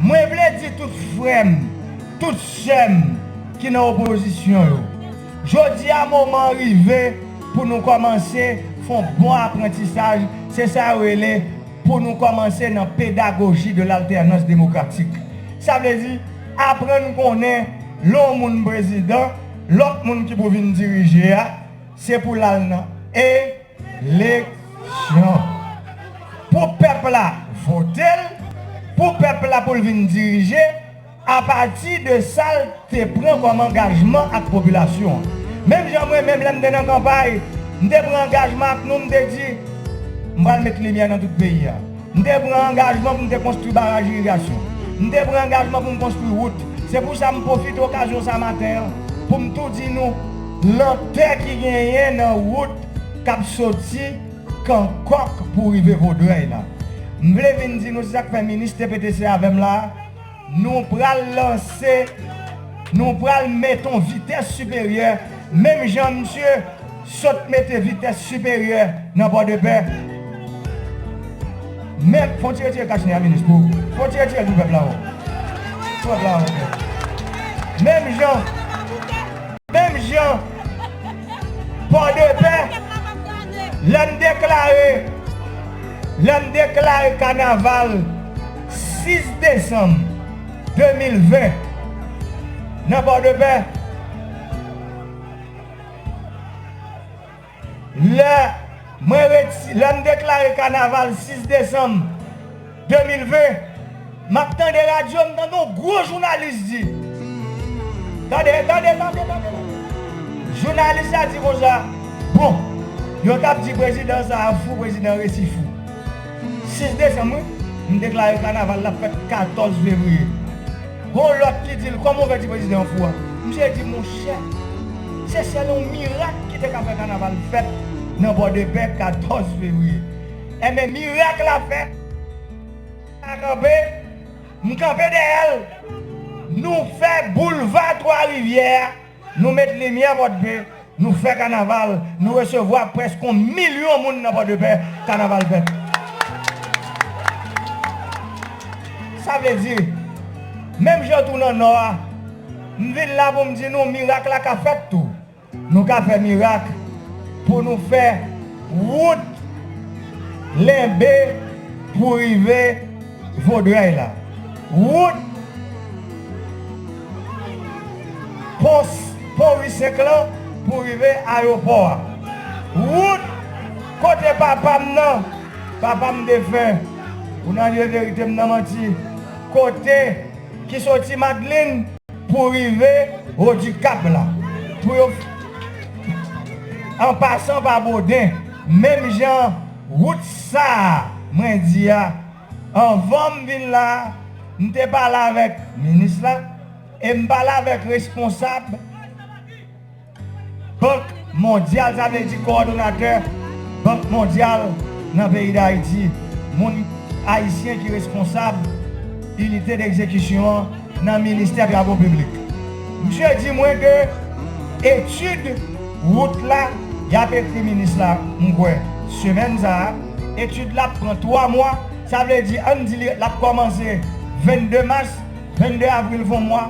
Mwen vle di tout frè m, tout sè m ki nan opozisyon yo, jodi a moman an rive pou nou kòmanse fè yon bon aprantisaj, se sa yo rele pou nou kòmanse nan pedagoji de l'alternance démocratique. Sa vle di, aprann konnen lè yon moun prezidan, lòt moun ki pou vin dirije a, se pou l al nan E, Leksyon Pou pèp la vote l Pou pèp la pou l vin dirije apati de sa l te pran kòm angajman ak popilasyon an. Menm jan mwen menm lè m te nan kanpay, m te pran angajman ak nou m te di m pral met limyè nan tout peyi a. M te pran angajman pou m te konstwi baraj irigasyon. M te pran angajman pou m konstwi wout. Se pou sa m pwofite okazyon sa maten an pou m tou di nou lantè ki genyen nan wout k ap soti Kankòk pou rive Vodrèy la. M vle vin di nou se sa k fè minis TPTC avè m la a, Nou pral lanse, nou pral met on vitès siperyè menm jan misye sot mete vitès siperyè nan Pòdepè. Menm, fon ti retire kach nen a minis pou, fon ti retirel pou pèp la ankò. Pou pèp la ankò. Menm jan, menm jan Pòdepè lèm deklare, lèm deklare kanaval. 6 desanm 2020, nan Pòdepè, lè mwen reti, lè m deklare kanaval 6 desanm 2020, m ap tande radyo, m tande yon gwo jounalis di, tande, tande, tande, tande, jounalis la di konsa, bon, yo t ap di prezidan sa a fou, prezidan resi fou. 6 desanm wi m deklare kanaval la fèt 14 fevriye gon lòt ki dil kòman ou fè di prezidan an fou a misye di monchè se sèl yon mirak ki te ka fè kanaval fèt nan pòdepè 14 fevriye enben mirak la fèt a kanpe m kanpe dèyèl nou fè boulva 3 rivyè a. Nou met limyè Pòdpe, nou fè kanaval, nou resevwa prèsk on milyon moun nan Pòdepè, kanaval fèt. Sa vle di, menm jan tou nan Nò a, m vin la pou m di nou mirak la ka fèt tou. Nou ka fè mirak pou nou fè wout Lenbe pou rive. Vaudreuil la. Wout pos Pon Visek lan pou rive ayopò a. Wout kote papa m nan, papa m defen, pou nan lye verite m nan manti, kote ki soti Madelin pou rive wo Dikap la. Pou yo. An pasan pa Boden, menm jan. Wout sa a mwen di a, anvan m vin la a, m te pale avèk minis la e m pale avèk responsab Bank Mondyal, sa vle di kowòdonatè Bank Mondyal nan peyi Dayiti, moun ayisyen ki responsab inite degzekisyon an nan ministè travo piblik. Misye di mwen ke etid. Wout la, y ap ekri minis la, m kwè, semèn sa a. Etid la ap pran twa mwa, sa vle di, ann di li, l ap kòmanse 22 mas, 22 avril fon mwa,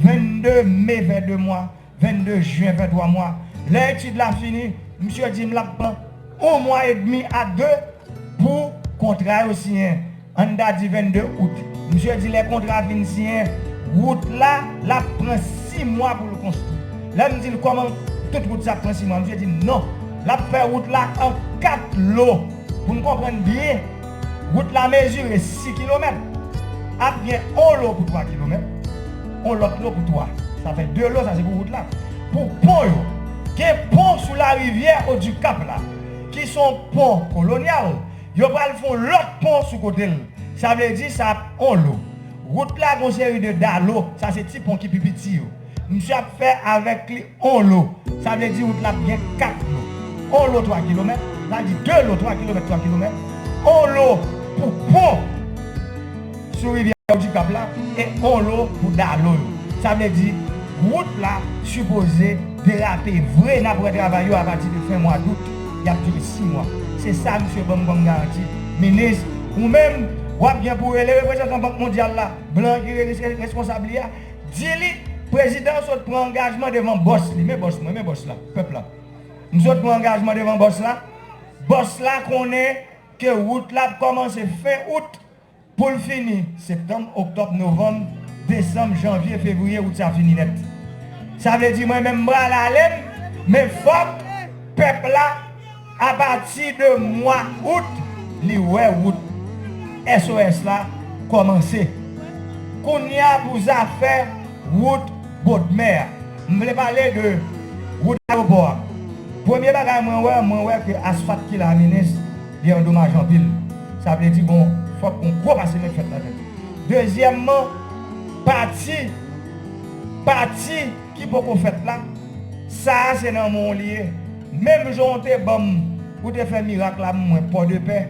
22 me fè de mwa, 22 jen fè twa mwa. Lè etid la fini, misye di m l ap pran on mwa edmi a de pou kontra yo siyen. An dadi 22 out, misye di lè kontra fin siyen, wout la, l ap pran 6 mwa pou l konstwi. Lè m di l kòman tout wout sa ap pran 6 mwa, misye di m non, l ap fè wout la an 4 lo. Pou n konprann byen, wout la mezire 6 kilomèt, ap gen on lo pou 3 kilomèt, on lòt lo pou 3. Sa fè 2 lo, sa se pou wout la. Pou pon yo, gen pon sou larivyè Odikap la, ki s on pon kolonyal, Yo pral fon lòt pon sou kote l. Sa vle di sa ap on lo. Rout la gon seri de dalo, sa se ti pon ki pi piti yo. Msye ap fè avèk li on lo. Sa vle di rout la ap gen 4 lo. On lo 3 kilomèt, sa vle di 2 lo 3 kilomèt 3 kilomèt. On lo pou pon. Sou rivyè Okap la e Olo pou Dalo yo. Sa vle di wout la sipoze derape vre nap wè travay yo apati de fen mwa dout yap dire 6 mwa se sa misye banm kòm garanti minis ou menm wap gen pou rele reprezantan bank mondyal la blan ki reskonsab li a di li prezidan an sot pran angajman devan bòs li men bòs mwen men bòs la pèp la msot pran angajman devan bòs la bòs la konnen ke wout la ap kòmanse fen out. Pou l fini, septanm, oktòb, novanm, desanm, janvye, fevriye, out sa fini nèt. Sa vle di mwen menm m pral ale m, men fòk pèp la apati de mwa out li wè wout SOS la kòmanse. Kounye a pou zafè wout bodmè a, m vle pale de wout ayewopò a. Premye bagay mwen wè, mwen wè ke asfat ki la minis, Li an domaj anpil. Sa vle di gon fòk gon gwo pase mèt fèt ladan li. Dezyèman, pati, pati ki poko fèt la, sa a se nan men w li ye. Menm jan w te ban m, ou te fè mirak la m mwen Pòdepè.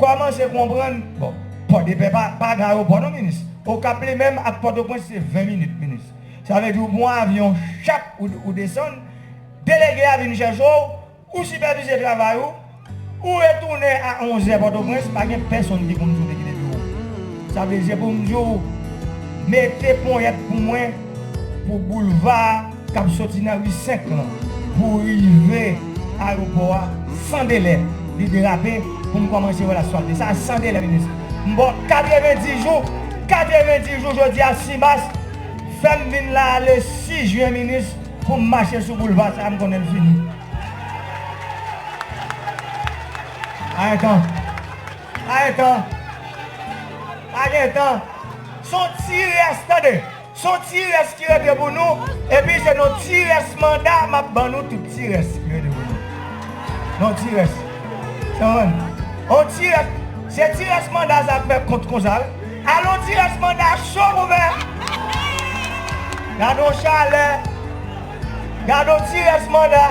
Kòmanse konprann, bon, Pòdepè pa, pa gen ayewopò non minis. Okap li menm ak Pòtoprens se 20 minit minis. Sa vle di ou pran yon avyon chap ou desann, delege a vin chèche w, Ou sipèvize travay ou, ou retounen a 11 zè Pòtoprens, pa gen pèsonn ki konn di w te kite biwo. Sa vle di se pou m di w mete ponyèt pou mwen pou boulva a k ap soti nan ri 5 lan pou w rive ayewopò a san delè li derape pou m kòmanse wè l asfalte. Sa san delè li nesesè. M ba w 90 jou, 90 jou jodi a 6 mas, fè m vin la a le 6 jen minis. Pou m mache sou boulva sa a m konnen l fini. Aetan! Aetan! Aetan! S on ti rès, tande! S on ti rès ki rete pou nou, epi se nan ti rès manda a m ap ban nou tout ti rès ki rete pou nou. Nan yon ti rès. Yon ti rès. Se ti rès manda a sa ap fè kont konsa wi. Alon ti res manda cho pou mè. Gadon chalè. Gadon ti res manda.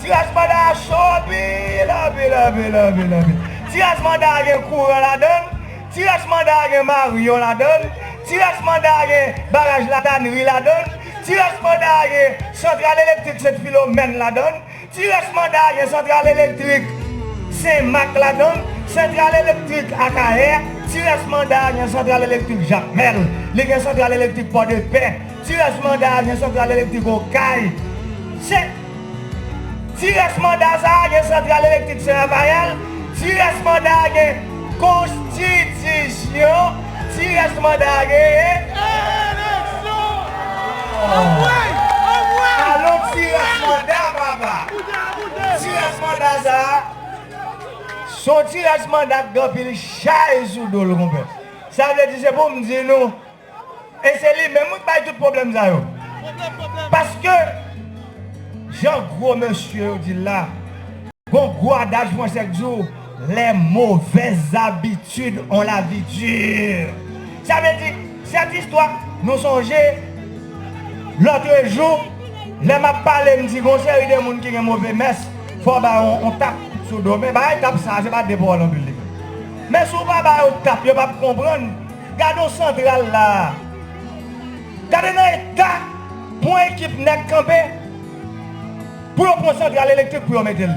Ti res manda a cho anpil anpil anpil anpil anpil. Ti res manda a gen kouran ladann. Ti res manda a gen maryon ladann. Ti res manda a gen baraj latanri ladann. Ti res manda a gen santral elektrik sent filomèn ladann. Ti rès manda gen santral elektrik Sen Mak ladan l, santral elektrik Akayè, ti rès manda gen santral elektrik Jakmèl, li gen santral elektrik Pòdepè, ti rès manda gen santral elektrik Okay, Sen. Ti rès manda sa gen santral elektrik Sen Rafayèl, ti rès manda gen Konstitizyon Ti rès manda a genyen. Eleksyon! Anmwey! Anmwey! Alon ti rès manda papa. Boude a boude! Ti rès manda sa a, son ti rès manda k gen anpil chay sou do l konpè. Sa vle di se pou m di nou, e se li menm wi k bay tout pwoblèm sa yo. Pwoblèm pwoblèm! Paske, jan gwo mesye yo di l la, gon gwo adaj fransè k di w. Les mauvaises habitudes ont la vie dure Sa vle di, sèt istwa Nou sonje lòtrejou lè m ap pale m di gon seri de moun ki gen move mès fò w ba yo yon tap sou do men bagay tap sa a se pa de pawòl anpil li fè men si w pa ba yo tap yo p ap konprann Gade yon santral la a Gade nan eta pou yon ekip nèg kanpe pou yo pran santral elektrik pou yo mete l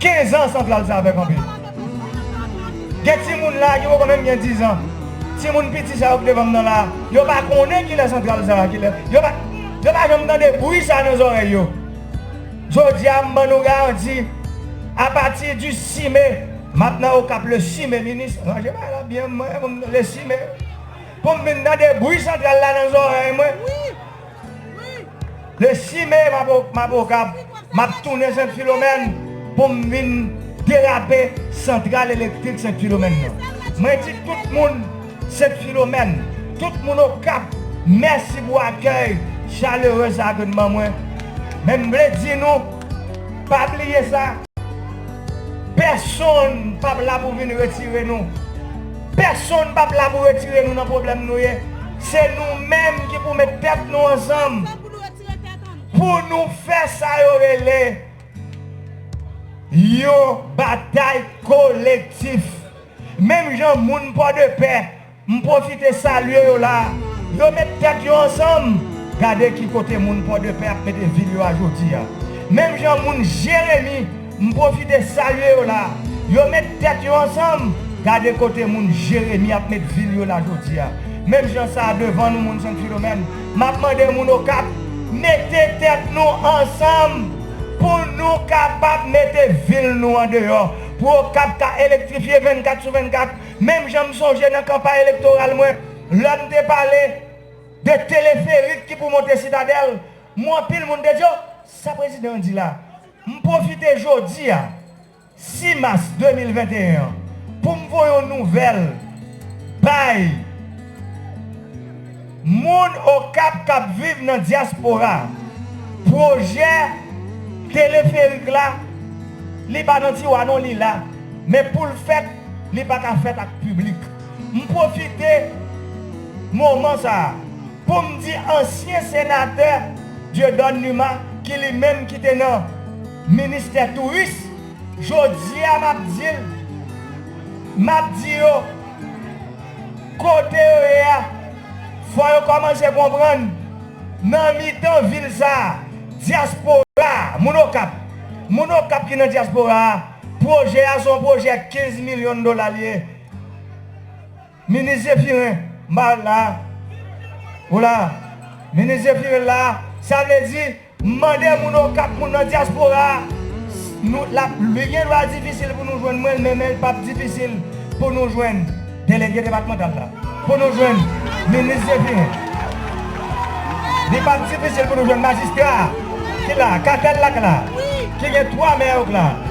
15 ans santral sa fè kanpe. Gen timoun la ki poko menm gen 10 ans. Timoun piti sa yo ki devanm nan la, yo pa konnen kilè santral sa, kilè, yo pa yo pa janm tande bwi sa nan zòrèy yo. Jodia m ban nou garanti a pati di 6 me map nan Okap le 6 me minis ranje bagay la byen mwen le 6 me poum vin tande bwi santral la nan zòrèy mwen. Le 6 me mabokap map tounen sent filomèn poum vin derape santral elektrik sent filomèn nan mwen di tout moun sent filomèn tout moun okap mèsi pou akèy chalere sa ke n ban mwen men m vle di nou pa bliye sa pèsonn pap la pou vin retire nou. Pèsonn pap la pou retire nou nan pwoblèm nou ye, se nou menm ki pou met tèt nou ansanm pou nou fè sa yo rele yon batay kolektif. Menm jan moun Pòdepè, m pwofite salye yo la, yo met tèt yo ansanm, gade ki kote moun Pòdepè ap mete vil yo a jodi a. Menm jan moun Jeremi. M pwofite salye yo la. Yo met tèt yo ansanm, gade kote moun Jeremi ap met vil yo la jodia. Menm jan sa a devan nou moun Sen Filomèn, m ap mande moun Okap, mete tèt nou ansanm pou nou kapab mete vil nou an deyò, pou Okap ka elektrifye 24 sou 24, menm jan m sonje nan kanpay elektoral mwen, lè m te pale de teleferik ki pou monte Sitadèl, m wè anpil moun te di, o, sa prezidan an di la? M pwofite jodi a, 6 mas 2021 an, pou m voye yon nouvèl bay moun Okap k ap viv nan dyaspora a. Pwojè teleferik la, li pa nan tiwa non, li la. Men pou l fèt, li pa ka fèt ak piblik. M pwofite moman sa a. Pou m di ansyen senatè Dieudonne Numa ki li menm ki te nan ministè touris, jodi a m ap di l, m ap di yo, kote yo ye a, fò yo kòmanse konprann nan mitan vil sa a, dyaspora a, moun Okap, moun Okap ki nan dyaspora a, pwojè a se yon pwojè 15 milyon dola l ye. Minis Zephirin Marc la a Ou la a Minis Zephirin la a Sa vle di M mande moun Okap moun nan dyaspora a Nou l ap Li gen dwa difisil pou nou jwenn mwen men men l p ap difisil pou nou jwenn Delege depatmantal la Pou nou jwenn Minis Zephirin Li p ap difisil pou nou jwenn Majistra a ki la a Katèl la k la a Ki gen 3 mè yo k la a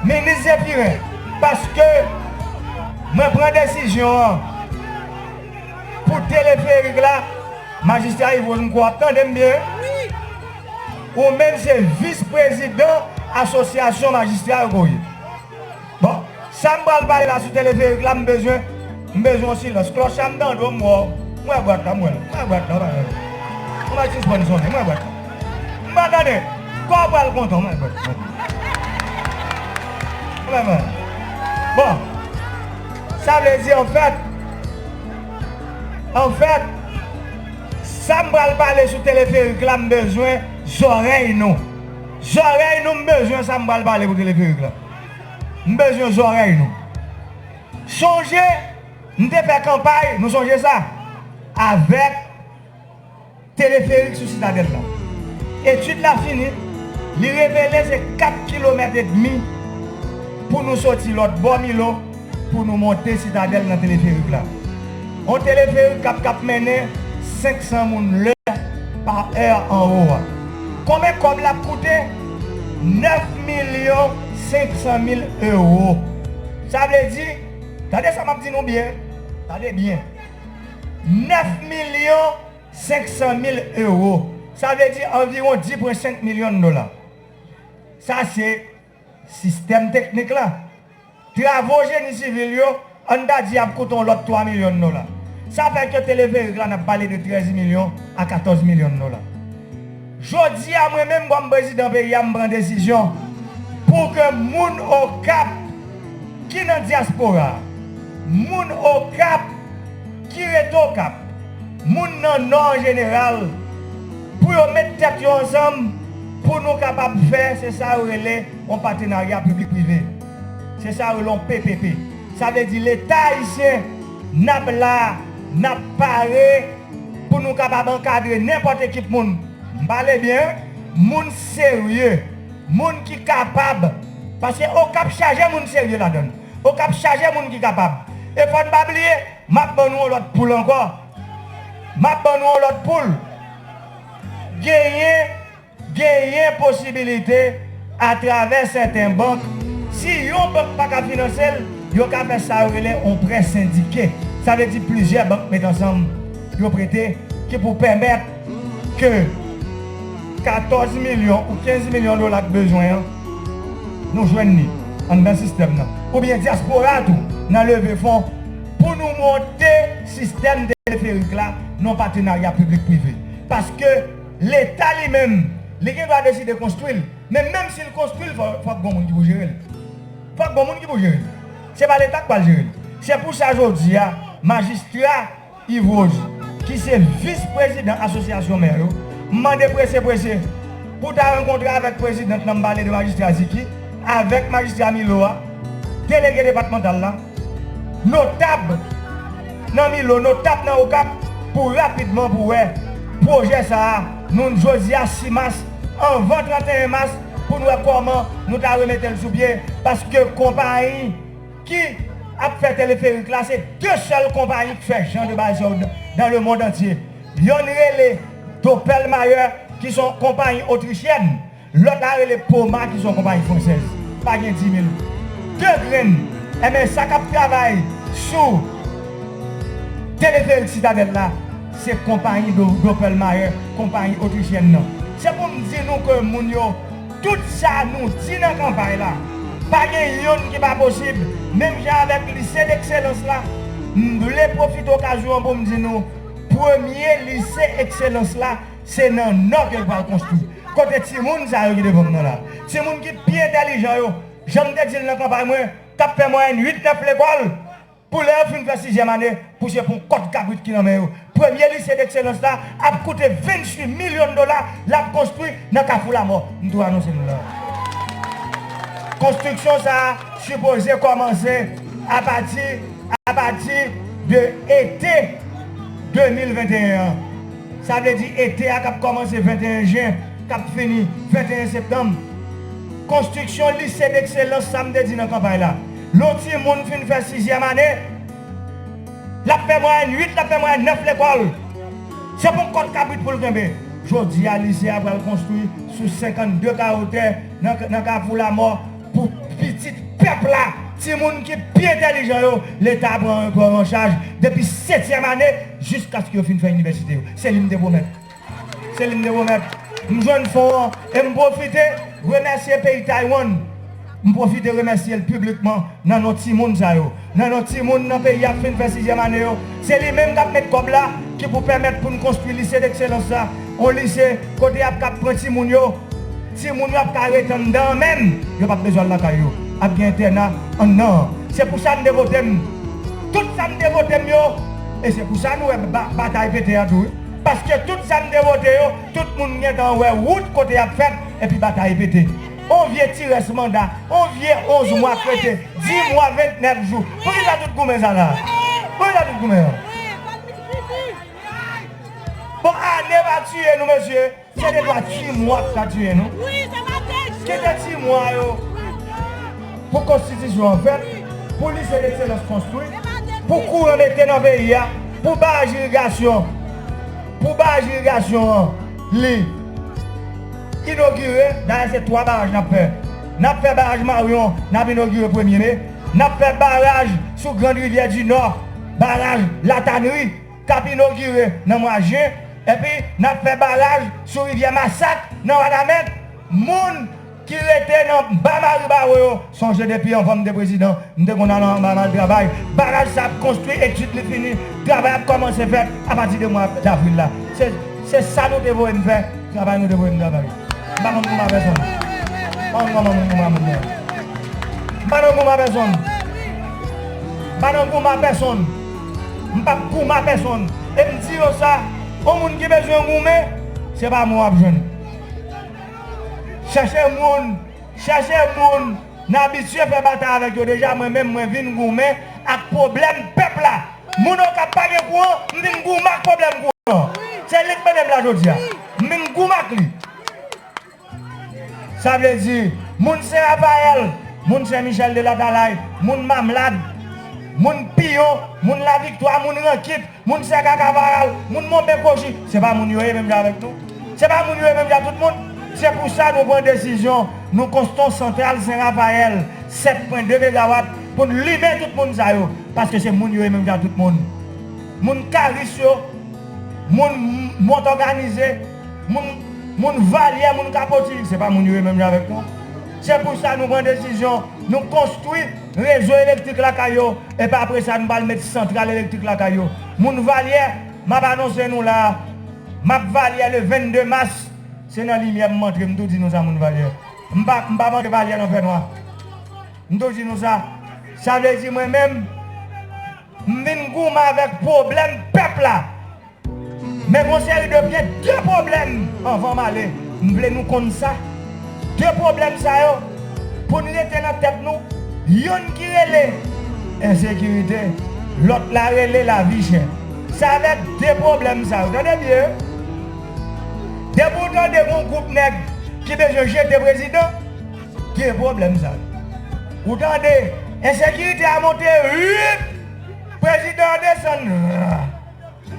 Minis Zephirin. Paske mwen pran desizyon an pou teleferik la Majistra Yvon m kwè w ap tande m byen wi Ou menm se vis prezidan asosyasyon majistra yo ke w ye Bon sa m pral pale la sou teleferik la m bezwen m bezwen w silans Klòch la m tande w m wè w m wè bwat la m wè l m wè bwat la w pa janm m pa janm sispann sonnen m wè bwat la. M pa gade, kò pral kontan mwen mwen mwen mwen mwen Bon sa vle di an fèt an fèt sa m pral pale sou teleferik la m bezwen zòrèy nou zòrèy nou m bezwen sa m pral pale pou teleferik la m bezwen zòrèy nou sonje m te fè kanpay nou sonje sa avèk Teleferik sou Sitadèl la. Etid la fini, li revele se 4 kilomèt edmi pou nou soti lòt bò Milo pou nou monte Sitadèl nan teleferik la. On teleferik kap kap mennen 500 moun lè pa è anwo a. Konben kòb lap koute? 9 milyon 500 mil ewo. Sa vle di, tande sa map di nou byen, tande byen. 9 milyon 500 mil ewo, sa vle di anviwon 10,5 milyon dola. Sa se sistèm teknik la. Travo jeni sivil yo, an n ta di y ap koute yon lòt 3 milyon dola. Sa fè ke teleferik la n ap pale de 13 milyon a 14 milyon dola. Jodi a mwen menm kòm prezidan peyi a m pran desizyon pou ke moun Okap ki nan dyaspora, moun Okap ki rete Okap, moun nan Nò an jeneral pou yo met tèt yo ansanm pou nou kapab fè se sa yo rele yon patenarya piblik prive. Se sa yo rele yon PPP. Sa vle di leta ayisyen n ap la, n ap pare. Pou nou kapab ankadre nenpòt ekip moun, m pale byen, moun serye, moun ki kapab, paske Okap chaje moun serye ladan l, Okap chaje moun ki kapab. E fò n pa bliye, m ap ban nou yon lòt poul ankò, m ap ban nou yon lòt poul, genyen. Genyen posibilite atravè sèten bank, si yon bank pa ka finanse l, yo ka fè sa yo rele yon prè sendike. Sa vle di plizyè bank met ansanm yo prete ki pou pèmèt ke 14 milyon ou 15 milyon dola k bezwen an, nou jwenn li anndan sistèm nan. Oubyen dyaspora a tou nan leve fon pou nou monte sistèm teleferik la nan patenarya piblik prive. Paske. Leta li menm, li gen dwa deside konstwi l, men menm si l konstwi l fòk gon moun ki pou jere l. Fòk gon moun ki pou jere l. Se pa leta k pral jere l. Se pou sa jodi a, majistra Yves Rose, ki se vis prezidan asosyasyon mè yo, mande prese prese pou ta rankontre avèk prezidant la, m pale de majistra Ziki, avèk majistra Milo a, delege depatmantal la, Notab nan Milo, notab nan Okap pou rapidman pou wè pwojè sa a nou jodi a 6 mas anvan 31 mas pou nou wè kòman nou ta remete l sou pye paske konpayi ki ap fè teleferik la se 2 sèl konpayi k fè jan de bagay sa yo dan le mond antye yonn rele Doppelmayr ki s on konpayi otrichyen Lòt la rele Poma ki se yon konpayi fransèz. Pa gen dimil. De grenn. Enben sa k ap travay sou teleferik Sitadèl la, se konpayi Doppelmayr, konpayi otrisyèn nan. Se pou m di nou ke moun yo, tout sa nou di nan kanpay la, pa gen youn ki pa posib. Menm jan avèk Lise Lekselans la, m vle pwofite okazyon an pou m di nou, premye Lise Ekselans la, Se nan nò ke l pral konstwi. Kote timoun sa yo ki devan m nan la? Timoun ki pi entèlijan yo, jan m te di l nan kanpay mwen, k ap fè mwayèn 8, 9 lekòl, pou lè yo fin fè sizyèm ane, pou se pou yon kòd kabrit ki nan men yo. Premye Lise Dekselans la ap koute 28 milyon dola, l ap konstwi nan Kafou Lamò. M tou anonse nou la. Konstriksyon sa a sipoze kòmanse apati apati de ete 2021 an. Sa vle di ete a k ap kòmanse 21 jen, k ap fini 21 septanm. Konstriksyon Lise Dekselans sa m te di nan kanpay la, lè yon timoun fin fè sizyèm ane, l ap fè mwayèn 8, l ap fè mwayèn 9 lekòl. Se pou kòt kabrit pou l kenbe. Jodi a, lise a pral konstwi sou 52 kawo tè nan Kafou Lamò. Pou pitit pèp la, timoun ki pi entèlijan yo, leta pran yon gran anchaj depi setyèm ane jiskaske yo fin fè inivèsite yo. Se li m te pwomèt. Se li m te pwomèt. M jwenn fon an e m pwofite remèsye peyi Taywann. M pwofite remèsye l piblikman nan non timoun sa yo. Nan non timoun nan peyi ap fin fè sizyèm ane yo, se li menm k ap met kòb la ki pou pèmèt pou n konstwi Lycée d'excellence la, on lise kote y ap kab pran timoun yo, timoun yo ap ka ret anndan an menm, yo p ap bezwen al lakay yo, ap gen entèna annan an. Se pou sa n te vote m, tout sa n te vote m yo, e se pou sa nou wè batay pete an tou wi, paske tout sa n te vote yo, tout moun gen tan wè wout kote y ap fèt, epi batay pete. On vye ti rès manda, on vye 11 mwa kreten, 10 mwa 29 jou. Poukisa tout goumen sa la? Poukisa tout goumen an? Bon ane pa tiye nou mesye, se de twa ti mwa ki ka tiye nou. Kite ti mwa yo pou konstitisyon an fèt, pou lise dekselans konstwi, pou kouran mete nan peyi a, pou baraj irigasyon, pou baraj irigasyon an. Li. Inogire, dayè se 3 baraj nap fè. Nap fè baraj Maryon, nap inogire premye me. Nap fè baraj sou grand rivyè di Nò, baraj La Tannerie, kap inogire nan mwa jen. Epi nap fè baraj sou rivyè Masak nan Wanament. Moun. ki rete nan ba maribaro yo sonje depi anvan m te prezidan m te konn al anba m al travay baraj sa ap konstwi etid li fini travay ap kòmanse fèt apati de mwa davril la se se sa nou te voye m fè travay nou te voye m travay m pa konn konba pèsonn m pa konn kòman moun konba moun nan m pa nan konba pèsonn m pa nan konba pèsonn m p ap konba pèsonn e m di nou sa yon moun ki bezwen goumen se pa mwen w ap jwenn. Chèche moun, chèche moun, n abitye fè batay avèk yo deja mwen menm mwen vin goumen ak pwoblèm pèp la moun okap pa gen kouran m vin goumen ak pwoblèm kouran an se li k mennen m la jodia m vin goumen ak li sa vle di moun sen rafayèl moun sen michèl de latalay moun mamlad moun piyon moun laviktwa moun rankit Moun sè kaka varal, moun monben kochi, se pa moun yo ye menm jan avèk nou? Se pa moun yo ye menm jan tout moun? Se pou sa nou pran desizyon, nou konston santral Sen Rafayèl 7 pwen 2 megawat pou n limen tout moun sa yo, paske se moun yo ye menm jan tout moun. Moun Karis yo, moun Mont Òganize, moun moun Valyè, moun Kapotirik, se pa moun yo ye menm jan avèk nou? Se pou sa nou pran desizyon, nou konstwi. Rezo elektrik lakay yo, epi apre sa nou pral met santral elektrik lakay yo. Moun Valyè, m ap anonse nou la a, m ap Valyè le 22 mas, se nan limyè m antre, m tou di nou sa moun Valyè. M pa m pa antre Valyè nan fènwa. M tou di nou sa. Sa vle di mwen menm, m vin goumen avèk pwoblèm pèp la. Men gon seri de gen 2 pwoblèm anvan m ale m vle nou konn sa 2 pwoblèm sa yo pou n rete nan tèt nou youn ki rele ensekirite lòt la rele lavi chè sa vè 2 pwoblèm sa yo tande byen depi w tande gon gwoup nèg ki bezwen jete prezidan gen pwoblèm sa yo ou tande ensekirite a monte ririp prezidan an desann rirr.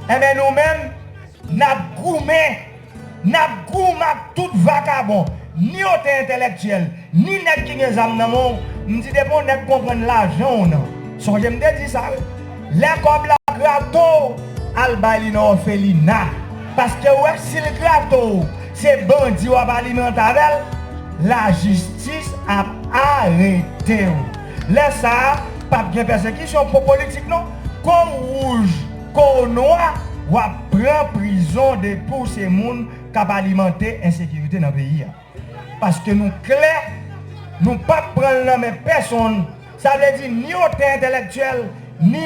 Enben nou menm, n ap goumen, n ap goum ak tout vakabon, ni otè entèlèktyèl, ni nèg ki gen zam nan men w, m di depi yon nèg konprann lajan w nan, sonje m te di sa wi, lè kòb la grate w, al bay li nan òfelina, paske ou wè si l grate w, se bandi w ap alimante avè l, lajistis ap arete w. Lè sa pap gen pèsekisyon pou politik non kou w wouj kou w nwa wap pran prizon depi w se moun kap alimante ensekirite nan peyi a paske nou klè nou pap pran l nan men pèsonn sa vle di ni otè entèlèktyèl ni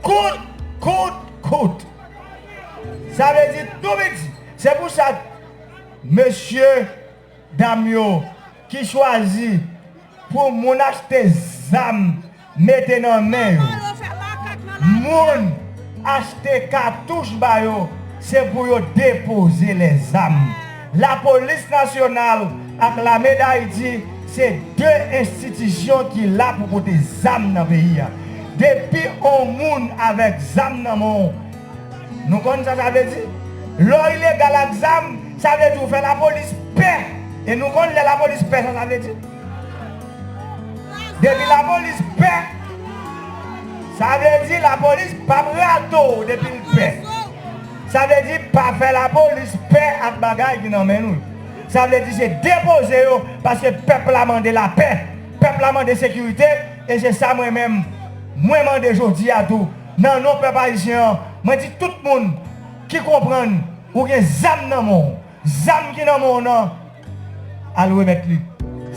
Kout! Kout! Kout! Sa vle di tou piti. Se pou sa mesye, dam yo ki chwazi pou moun achte zam mete nan men yo, moun achte katouch ba yo, se pou yo depoze lè zam. Lapolis Nasyonal ak Lame Dayiti se 2 enstitisyon ki la pou pote zam nan peyi a. Depi on moun avèk zam nan men w, nou konn sa sa vle di. Lè w ilegal ak zam, sa vle di ou fè lapolis pè. E nou konn lè lapolis pè sa sa vle di. Depi lapolis pè, sa vle di lapolis pa p rato w depi l pè. Sa vle di pa fè la polis pè ak bagay ki nan men nou yo. Sa vle di se depoze yo paske pèp la mande la pè, pèp la mande sekirite e se sa mwen menm mwen mande jodi a tou nan non pèp ayisyen an mwen di tout moun ki konprann ou gen zam nan men w, Zam ki nan menw nan al remèt li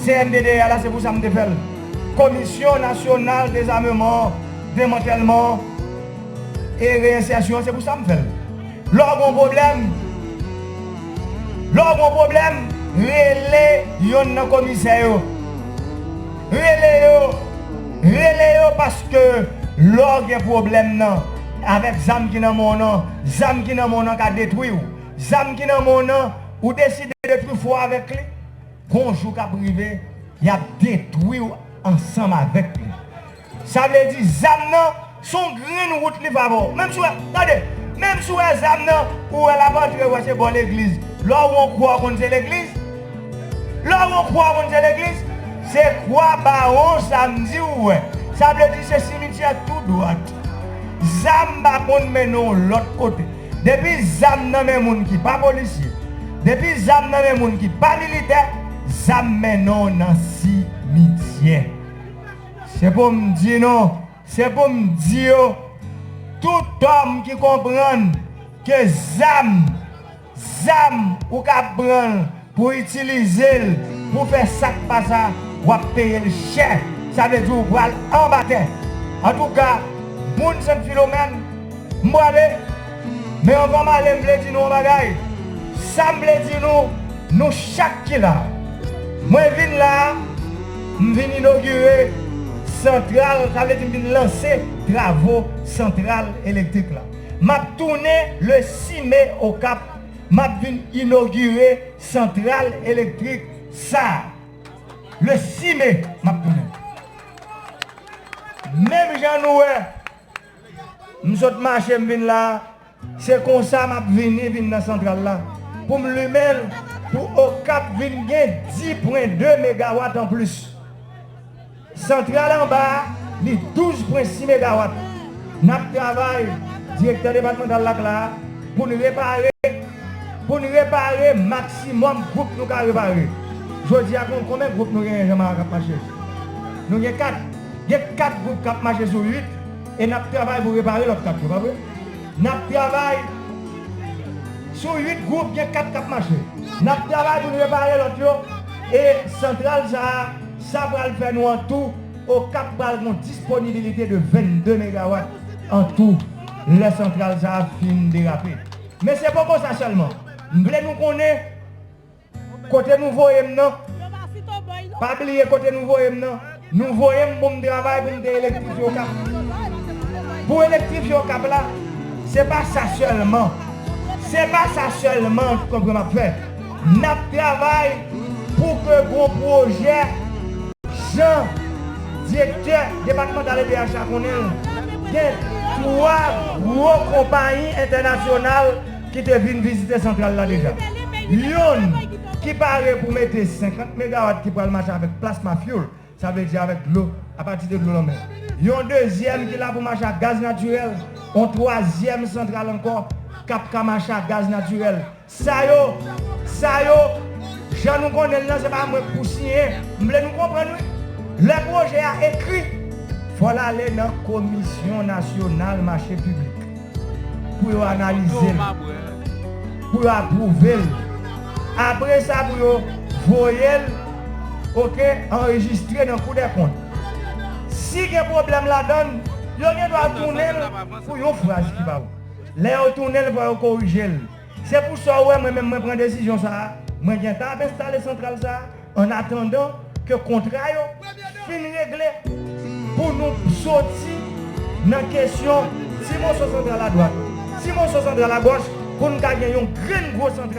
CNDDH la se pou sa m te fè l Komisyon Nasyonal Dezameman, Demantèlman e Reyensèsyon se pou sa m fè l Lè w gen yon pwoblèm Lè w gen yon pwoblèm rele yonn nan komisè yo Rele yo Rele yo paske lè w gen pwoblèm nan avèk zam ki nan men w nan zam ki nan men w nan ka detwi w. Zam ki nan men w nan, ou deside detwi fò avèk li, gon jou k ap rive, y ap detwi w ansanm avèk li. Sa vle di zam nan s on grenn wout li favè w. Menm si w wè, tande, menm si w wè zam nan, ou wè l ap antre, ou wè se bò legliz. Lè w wè yon kwa, ou konn se legliz. Lè w wè yon kwa, ou konn se legliz. Se kwa Bawon Samdi ou wè. Sa vle di se simityè tou dwat. Zam pa konn mennen w lòt kote. Depi zam nan men moun ki pa polisye, depi zam nan men moun ki pa militè, zam mennen w nan simityè. Se pou m di nou, se pou m di yo, tout òm ki konprann ke zam, zam ou kab pran l, Pou itilizel pou fè sak pa sa wap peyel chè sa vle di ou pral anba tè antouka moun sent filomèn m prale men anvan m ale m vle di nou yon bagay sam vle di nou nou chak ki la mwen vin la m vin inogire santral sa vle di m vin lanse travo santral elektrik la map tounen le 6 me okap Map vin inogire santral elektrik sa le 6 me map tounen. Menm jan nou wè m sot mache m vin la se konsa map vini vin nan santral la poum limen l pou okap vin gen 10 pwen 2 megawat anplis. Santral anba li 12 pwen 6 megawat. N ap travay, Direktè Depatmantal la ak la, pou n repare pou n repare maksimòm gwoup nou ka repare. Jodi a kon konben gwoup nou genyen Janmara k ap mache? Nou gen 4. Gen 4 gwoup k ap mache sou 8 e n ap travay pou repare lòt 4 yo, pa vre? N ap travay sou 8 gwoup, gen 4 k ap mache. N ap travay pou n repare lòt yo e santral sa a. Sa pral fè nou an tou Okap pral gen yon disponibilite de 22 megawat an tou lè santral sa a fin derape. Men se poko sa sèlman. M vle nou konnen kote nou voye m nan, pa bliye kote nou voye m nan, nou voye m pou m travay pou m te elektrifye Okap. Pou elektrifye Okap la, se pa sa sèlman, se pa sa sèlman, konpre m ap fè. Nap travay pou ke gwo pwojè Jan Direktè Depatmantal edh a konnen l, gen 3 gwo konpayi entènasyonal ki te vin vizite santral la deja. Yonn ki pare pou mete 50 megawat ki pral mache avèk plasma fuel, sa vle di avèk dlo apati de dlo lanmè. Yon dezyèm ki la pou mache ak gaz natirèl, yon twazyèm santral ankò kap ka mache ak gaz natirèl. Sa yo, sa yo, jan nou konnen l lan se pa mwen k pou siyen, m vle nou konprann wi. Lè pwojè a ekri, fò l ale nan Komisyon Nasyonal Mache Piblik pou yo analize l, pou yo apwouve l, apre sa pou yo voye l oke anrejistre nan Kou dè Kont. Si gen pwoblèm ladan l, yo gen dwa tounen l pou yon fraz ki pa bon. Lè yo tounen l fò yo korije l. Se pou sa ou wè mwen menm mwen pran desizyon sa a, mwen gentan ap enstale santral sa a an atandan ke kontra yo fin regle pou nou soti nan kesyon ti moso santral adwat, ti moso santral agòch pou n ka gen yon grenn gwo santral.